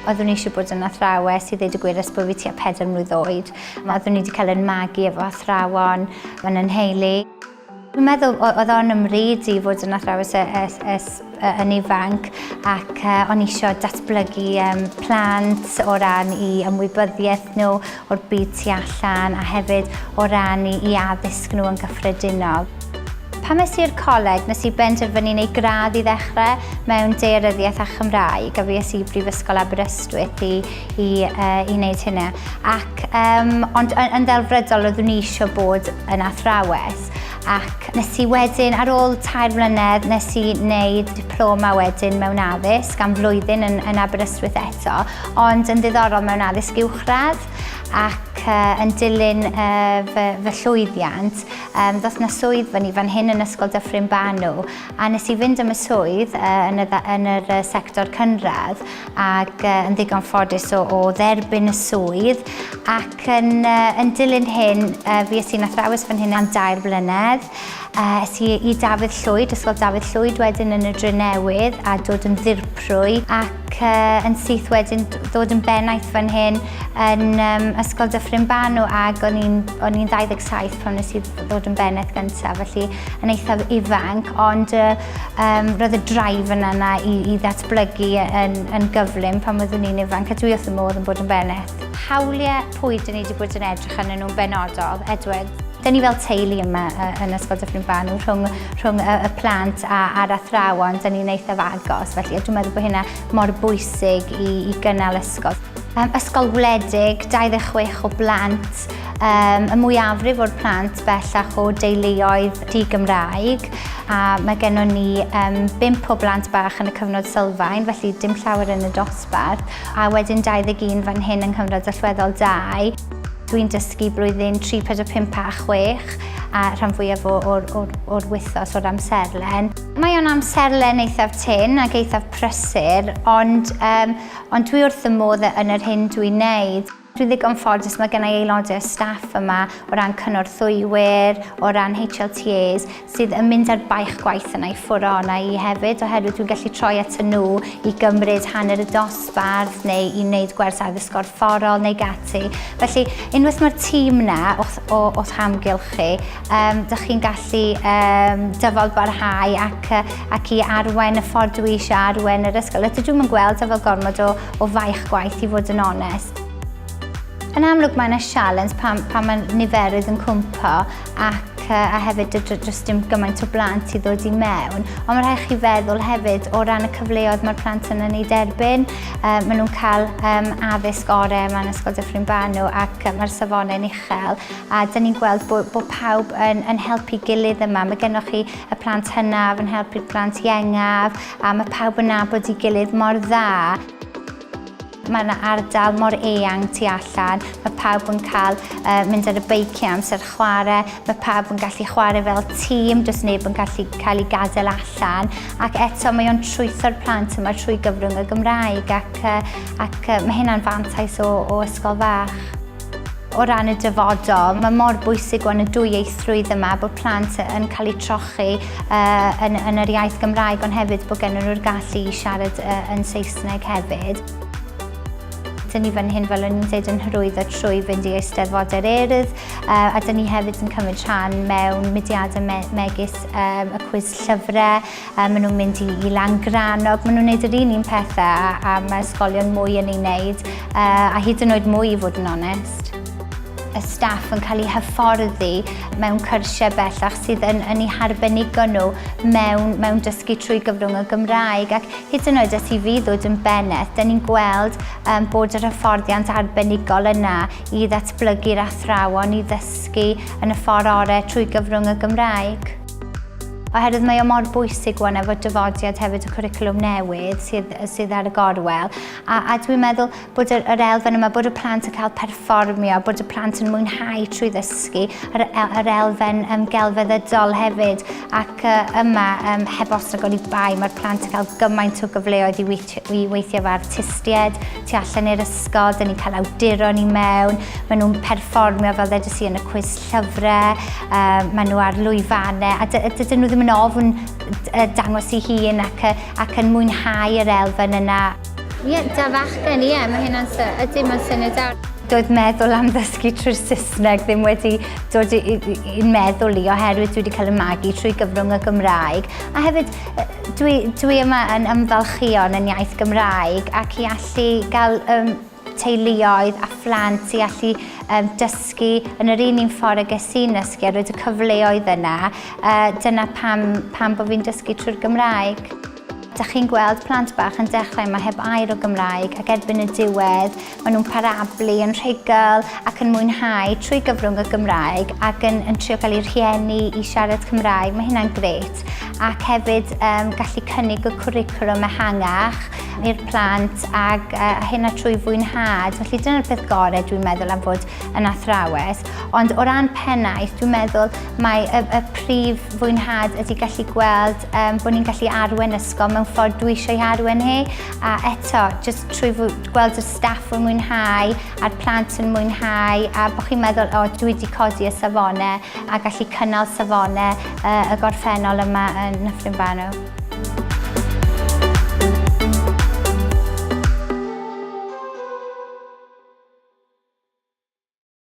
Oeddwn i eisiau bod yn athrawes i ddeud y gwir ers bod fi tua pedair mlwydd oed. Oeddwn i wedi cael yn magu efo athrawon, fan yn heili. Dwi'n meddwl oedd o'n ymryd i fod yn athrawes yn ifanc ac o'n eisiau datblygu plant o ran i ymwybyddiaeth nhw o'r byd tu allan a hefyd o ran i addysg nhw yn gyffredinol. Pan es i'r coleg, nes i benderfynu neu gradd i ddechrau mewn dearyddiaeth a Chymraeg a fi es i Brifysgol Aberystwyth i i, uh, i wneud hynna. Ac, um, ond yn, yn ddelfrydol oeddwn i eisiau bod yn athrawes ac nes i wedyn, ar ôl tair mlynedd, nes i wneud diploma wedyn mewn addysg am flwyddyn yn, yn Aberystwyth eto, ond yn ddiddorol mewn addysg uwchradd ac uh, yn dilyn uh, fy, fy llwyddiant, um, ddoth na swydd fan i fan hyn yn Ysgol Dyffryn Banw A wnes i fynd am y swydd yn y, yn yr sector cynradd ac yn ddigon ffodus o, o dderbyn y swydd ac yn, yn dilyn hyn fi ys i'n athrawes fan hyn am dair blynedd. Es i i Dafydd Llwyd, Ysgol Dafydd Llwyd wedyn yn y Dre Newydd a dod yn ddirprwy ac yn syth wedyn dod yn bennaeth fan hyn yn um, Ysgol Dyffryn Banw ac o'n i'n 27 pan nes i ddod yn bennaeth gyntaf felly yn eithaf ifanc, ond uh, um, roedd y drive yna yna i, i ddatblygu yn, yn gyflym pan oeddwn i'n ifanc, a dwi wrth y modd yn bod yn beneth. Hawliau pwy dyn ni wedi bod yn edrych yn nhw'n benodol, Edward? Dyn ni fel teulu yma yn Ysgol Dyffryn Banw rhwng, rhwng y, y plant a, a'r athrawon, dyn ni'n eithaf agos, felly dwi'n meddwl bod hynna mor bwysig i, i gynnal ysgol. Um, ysgol wledig, 26 o blant, Um, y mwyafrif o'r plant bellach o deuluoedd di-Gymraeg a mae gennym ni um, bimp o blant bach yn y cyfnod sylfaen, felly dim llawer yn y dosbarth, a wedyn 21 fan hyn yng nghyfnod allweddol 2. Dwi'n dysgu blwyddyn 3, 4, 5 a 6 a rhan fwyaf o'r, or, or wythos o'r amserlen. Mae o'n amserlen eithaf tyn ac eithaf prysur, ond, um, ond dwi wrth y modd yn yr hyn dwi'n neud. Dwi'n ddigon ffodus, mae gennau aelodau o staff yma o ran cynorthwywyr, o ran HLTAs, sydd yn mynd ar baich gwaith yna i ffwrw yna i hefyd, oherwydd dwi'n gallu troi at y nhw i gymryd hanner y dosbarth neu i wneud gwers addysg gorfforol neu gati. Felly, unwaith mae'r tîm yna o'ch, o'ch amgylch chi, Um, dych chi'n gallu um, dyfod barhau ac, ac i arwen y ffordd dwi eisiau arwen yr ysgol. Ydw dwi'n gweld efo gormod o, o faich gwaith i fod yn onest. Yn amlwg mae yna sialens pan, pan mae niferydd yn cwmpo ac a hefyd dros dim gymaint o blant i ddod i mewn. Ond mae rhaid chi feddwl hefyd o ran y cyfleoedd mae'r plant yna ni derbyn. Um, maen nhw'n cael um, addysg orau yma yn Ysgol Dyffryn Banw ac mae'r safonau'n uchel. A dan ni'n gweld bod, bod pawb yn, yn helpu gilydd yma. Mae gennych chi y plant hynaf yn helpu'r plant iengaf a mae pawb yn nabod i gilydd mor dda. Mae yna ardal mor eang tu allan, mae pawb yn cael uh, mynd ar y beiciau amser chwarae, mae pawb yn gallu chwarae fel tîm, does neb yn gallu cael ei gadael allan, ac eto mae o'n trwytho'r plant yma trwy gyfrwng y Gymraeg, ac, uh, ac uh, mae hynna'n fantais o, o ysgol fach. O ran y dyfodol, mae mor bwysig o'n y dwyieithrwydd yma bod plant yn cael eu trochi uh, yn, yn yr iaith Gymraeg ond hefyd bod gen nhw'r gallu i siarad uh, yn Saesneg hefyd. Dyn ni fan hyn, fel o'n i'n dweud, yn hyrwyddo trwy fynd i eisteddfodau'r erdd uh, a dyn ni hefyd yn cymryd rhan mewn mudiadau me megis um, y cwys llyfrau Yy ma' nhw'n mynd i i Langrannog, ma' nhw'n neud yr un un pethe a a ma' ysgolion mwy yn ei neud yy a hyd yn oed mwy i fod yn onest. Y staff yn cael eu hyfforddi mewn cyrsiau bellach sydd yn yn eu harbenigo nhw mewn mewn dysgu trwy gyfrwng y Gymraeg ac hyd yn oed os i fi ddod yn beneth, 'da ni'n gweld yym bod yr hyfforddiant arbenigol yna i ddatblygu'r athrawon i ddysgu yn y ffor' ore' trwy gyfrwng y Gymraeg. Oherwydd mae o mor bwysig wan efo dyfodiad hefyd y cwricwlwm newydd sydd, sydd ar y gorwel. A, a dwi'n meddwl bod yr, yr elfen yma, bod y plant yn cael perfformio, bod y plant yn mwynhau trwy ddysgu, yr, yr elfen um, gelfeddydol hefyd. Ac uh, yma, um, heb os ag oni bai, mae'r plant yn cael gymaint o gyfleoedd i weithio Dwi weithiau efo artistiaid tu allan i'r ysgol, dyn ni'n cael awduron i mewn, maen nhw'n perfformio fel ddedys i yn y cwis llyfrau, uh, maen nhw ar lwyfannau, a dydyn nhw ddim yn ofn dangos i hun ac, ac yn mwynhau yr elfen yna. Ie, yeah, da fachgen, ie, yeah, mae hynna'n syniad, ydy mae'n syniad dawr. Doedd meddwl am ddysgu trwy'r Saesneg ddim wedi dod i'n meddwl i oherwydd dwi wedi cael y magu trwy gyfrwng y Gymraeg. A hefyd, Dwi, dwi yma yn ymfalchio yn yn iaith Gymraeg ac i allu gael um, teuluoedd a phlant i allu um, dysgu yn yr un un ffordd ag es i'n nysgu a roed y cyfleoedd yna. Uh, dyna pam, pam bod fi'n dysgu trwy'r Gymraeg. Da chi'n gweld plant bach yn dechrau yma heb air o Gymraeg ac erbyn y diwedd Maen nhw'n parablu yn rhugl ac yn mwynhau trwy gyfrwng y Gymraeg ac yn, yn trio gael eu rhieni i siarad Cymraeg. Mae hynna'n gret. Ac hefyd um, gallu cynnig y cwricwlwm ehangach i'r plant ac uh, hynna trwy fwynhad. Felly dyna'r peth gorau dwi'n meddwl am fod yn athrawes. Ond o ran pennaeth, dwi'n meddwl mae y, y prif fwynhad ydy gallu gweld um, bod ni'n gallu arwen ysgol mewn ffordd dwi eisiau arwen hi. A eto, jyst trwy gweld y staff yn mwynhau a'r plant yn mwynhau a bod chi'n meddwl, o, dwi wedi codi y safonau a gallu cynnal safonau uh, y gorffennol yma yn Nyffryn Banw.